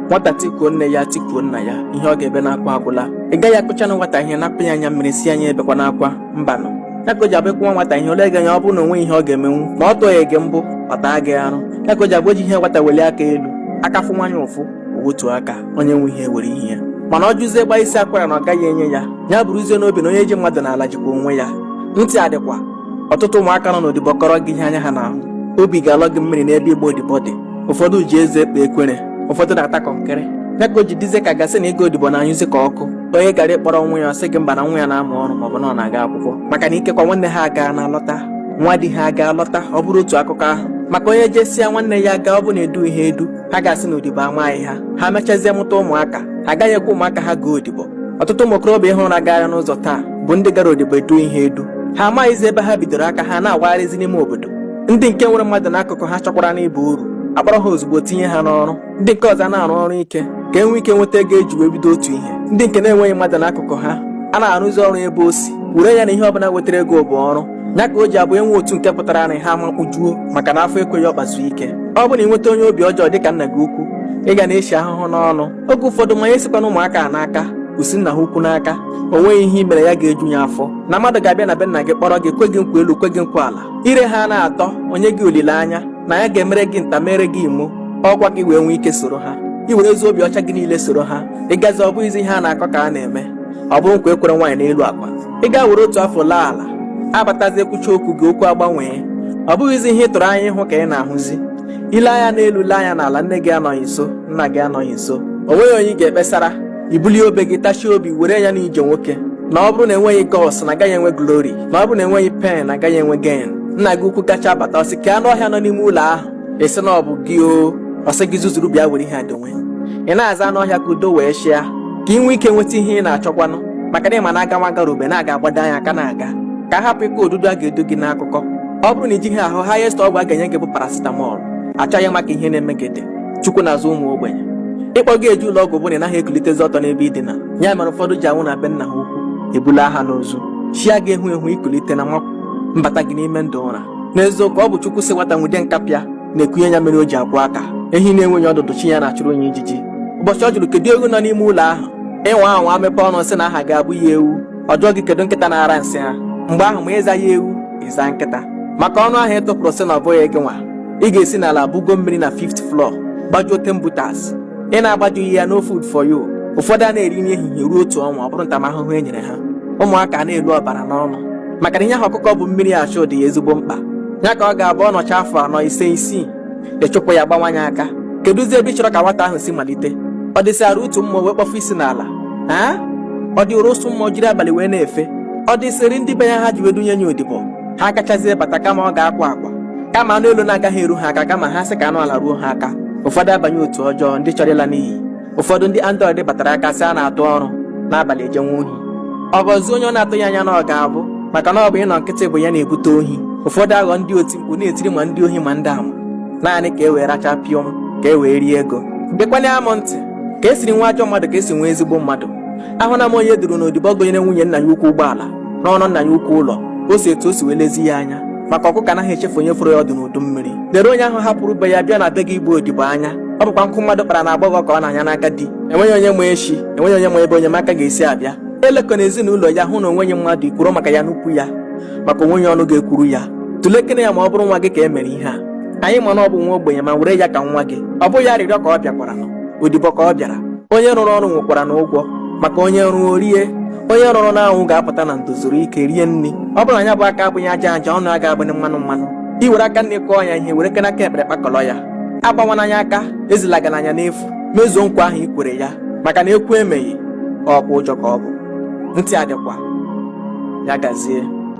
nwata tikuo nne ya tikuo nna ya ihe ọ ga-ebe n'akwa agwụla ị gaghị akụchanụ nwata ihe napụ ya anya mmiri sị ya ebekwana akwa mbanụ ya ka o ji abụ ị kụwa nwata ihe o lee gị anya ọ bụrụ na o nweghị ihe ọ ga-emenwu ma ọ tụghị gị mbọ ọ taa gị arụ ya ka o ji abụ o ji ihe nwata weli aka elu aka fụnwa ya ụfụ o wetuo aka onye nwe ihe were ihe ya mana ọ jụzie gbaa isi akwara na ọ gaghị enye ya ya buruzie n'obi na onye ji mmadụ n'ala jikwa onwe ya ntị adịkwa ọtụtụ ụmụaka nọ n'odibo kọrọ gị ihe anya ha na-ahụ obi ga-alọ gị mmiri n'ebe ịgba odibo dị ụfọdụ ji eze ekpe ekwere ụfọdụ na-ata kọnkịrị ya ka o ji dịzie ka a ga-asị na ịga odibo na-anyụzi ka ọkụ onye gara ịkpọrọ nwa ya ọ sị gị mba na nwa ya na-amụ ọrụ maọbụ na ọ na-aga akwụkwọ maka na ikekwa nwanne ha agaana lọta nwa di ha agaa lọta ọ bụrụ otu akụkọ ahụ maka onye jesịa nwanne ya gaa ọ bụ na edughị ha edu ha ga-asị na odibo amaghị ha ha mechazie mụta ụmụaka ha agaghị ekwe ụmụaka ha gaa odibo ọtụtụ ụmụ okorobịa ị hụrụ na-agagharị n'ụzọ taa bụ ndị gara odibo edughị ha edu ha amaghịzi ebe ha bidoro aka ha na-awagharịzi n'ime obodo ndị nke nwere mmadụ n'akụkụ ha chọkwaranụ ịba uru akpọrọ ha ozugbo tinye ha n'ọrụ ndị nke ọzọ na-arụ ọrụ ike ka e nwee ike nweta ego e ji wee bido otu ihe ndị nke na-enweghị mmadụ n'akụkụ ha a na-arụzi ọrụ ebe o si were ya na ihe ọbụla wetara ego bụ ọrụ ya ka o ji abụ e nwee otu nke pụtaranụ ha amakpujuo maka na afọ ekweghị ọkpa zuo ike ọ bụ na i nweta onye obi ọjọọ dịka nna gị ukwu ị ga na-eshi ahụhụ n'ọnụ oge ụfọdụ ma ya esikwana ụmụaka a n'aka o si nna ha ukwu n'aka o nweghị ihe i mere ya ga-eju ya afọ na mmadụ ga-abịa na be nna gị kpọrọ gị kwe gị nkwa elu kwe gị nkwa ala ire ha na-atọ o nye gị olileanya na ya ga-emere gị nta mere gị imo ọkwa ka i wee nwee ike soro ha i were ezi obi ọcha gị niile soro ha ị gazie ọ bụghịzi ihe a na-akọ ka a na-eme ọ bụrụ nkwa e kwere nwaanyị n'elu akwa ị gaa were otu afọ laa ala abatazi ekwucha okwu gị okwu agbanwee ọ bụghịzi ihe ị tụrụ anya ịhụ ka ị na-ahụzi i lee anya n'elu lee anya n'ala nne gị anọghị nso nna gị anọghị nso o nweghị onye ị ga-ekpesara i bulie obe gị tachie obi were ya n'ije nwoke na ọ bụrụ na enweghị guts na agaghị enwe glory na ọ bụrụ na enweghị pain na agaghị enwe gain nna gị ukwu gacha bata ọ sị kee anụ ọhịa nọ n'ime ụlọ ahụ ị sị na ọ bụ gị o ọ sị gị zuzuru bịa were ihe a donwe ị na-aza anụ ọhịa ka udo wee chịa ka i nwee ike nweta ihe ị na-achọkwanụ maka na ị ma na aga nwa gara ube na-aga agbado anya aka na-aga ka a hapụ ịkọ odudu a ga-edu gị n'akụkọ ọ bụrụ na i jighị ahụ highest ọgwụ a ga-enye gị bụ paracetamol achọghị ịma ka ihe na-eme gị dị chukwu na-azụ ụmụ ogbenye ịkpọ gị eje ụlọ ọgwụ bụ na ị naghị ekulitezi ọtọ n'ebe i dina ya mere ụfọdụ ji anwụ na be nna ha ukwu ebulaa ha n'ozu chi agaghị ehu ehu i kulite na nwakwụ mbata gị n'ime ndụ ụra n'eziokwu ọ bụ chukwu sị nwata nwude nkapị na-ekunye ya mmiri o ji akwọ aka ehi na-enweghị ọdụdụ chi ya na-achụrụ ya ijiji ụbọchị ọ jụrụ kedu ewu nọ n'ime ụlọ ahụ ị nwa anwa mepee ọnụ sị na aha gị abụghị ewu ọ jụọ gị kedu nkịta na-ara nsị ha mgbe ahụ ma ị zaghị ewu ị zaa nkịta maka ọnụ ahụ ị tụpụrụ sị na ọ bụghị gị nwa ị ga-esi n'ala bugo mmiri na fifth floor gbajuo ten butas ị na-agbajughị ya no food for you ụfọdụ anaghị eri nri ehihie ruo otu ọnwa ọ bụrụ ntamahụhụ e nyere ha ụmụaka a na-elu ọbara n'ọnụ maka na ihe ahụ ọkụkọ bu mmiri achụ dị ya ezigbo mkpa ya ka ọ ga-abụ ọ nọcha afọ anọ ise isii ị chụpụ ya gbawa ya aka kedụzi ebe ị chọrọ ka nwata ahụ si malite ọ dịsịara utu mma o wee kpọfụ isi n'ala ọ dịịrị ụsụ mma o jiri abalị wee na-efe ọ dịsịrị ndị be ya ha ji wee dunye ya odibo ha agachazie bata kama ọ ga-akwa akwa kama anụ elu na-agaghị eru ha aka kama ha sị ka anụ ala ruo ha aka ụfọdụ abanye otu ọjọọ ndị chọrọ ịla n'iyi ụfọdụ ndị android batara aka sị a na-atụ ọrụ n'abalị ejewe ohi ọ ghọzie onye ọ na-atụghị anya na ọ ga-abụ maka na ọ bụ ịnọ nkịtị bụ ya na-ebute ohi ụfọdụ aghọ ndị oti mkpu na-etiri ma ndị ohi ma ndị ama naanị ka e wee racha pịọm ka e wee rie ego gekwanụ m ntị ka e siri nwee ajọ mmadụ ka e si nwee ezigbo mmadụ ahụna m onye e duru n'odibo gonyere nwunye nna ya ukwu ụgbọala rụọrọ nna ya ukwu ụlọ o si etu o si wee lezie ya anya maka ọkụkọ anaghị echefu onye foro ya ọdụ n'udu mmiri lere onye ahụ hapụrụ be ya bịa na be gị ịgba odibo anya ọ bụkwa nkụ mmadụ kpara n'agbọghọ ka ọ na-anya n'aka di enweghị onye ma echi enweghị onye ma ebe enyemaka ga-esi abịa elekwana ezinụlọ ya hụ na o nweghị mmadụ ikwuru maka ya n'ukwu ya maka o nweghị ọnụ ga-ekwuru ya tụlekene ya ma ọ bụrụ nwa gị ka e mere ihe a anyị ma na ọ bụ nwa ogbenye ma were ya ka nwa gị ọ bụghị arịrịọ ka ọ bịakwaranụ odibo ka ọ bịara onye rụrụ ọrụ nwekwaranụ ụgwọ maka onye rụọ o rie onye rụrụ n'anwụ ga-apụta na ndo zuru ike rie nri ọ bụrụ na ya bụ aka abụghị aja aja ọnụ a ga-abụghị mmanụ mmanụ i were aka nni kụọ ya ihe werekene aka ekpe kpakọrọ ya agbawana nya aka ezilagana nya n'efu mezuo nkwa ahụ i kwere ya maka na ekwu emeghị ọkwa ụjọ ka ọ bụ ntị adịkwa ya gazie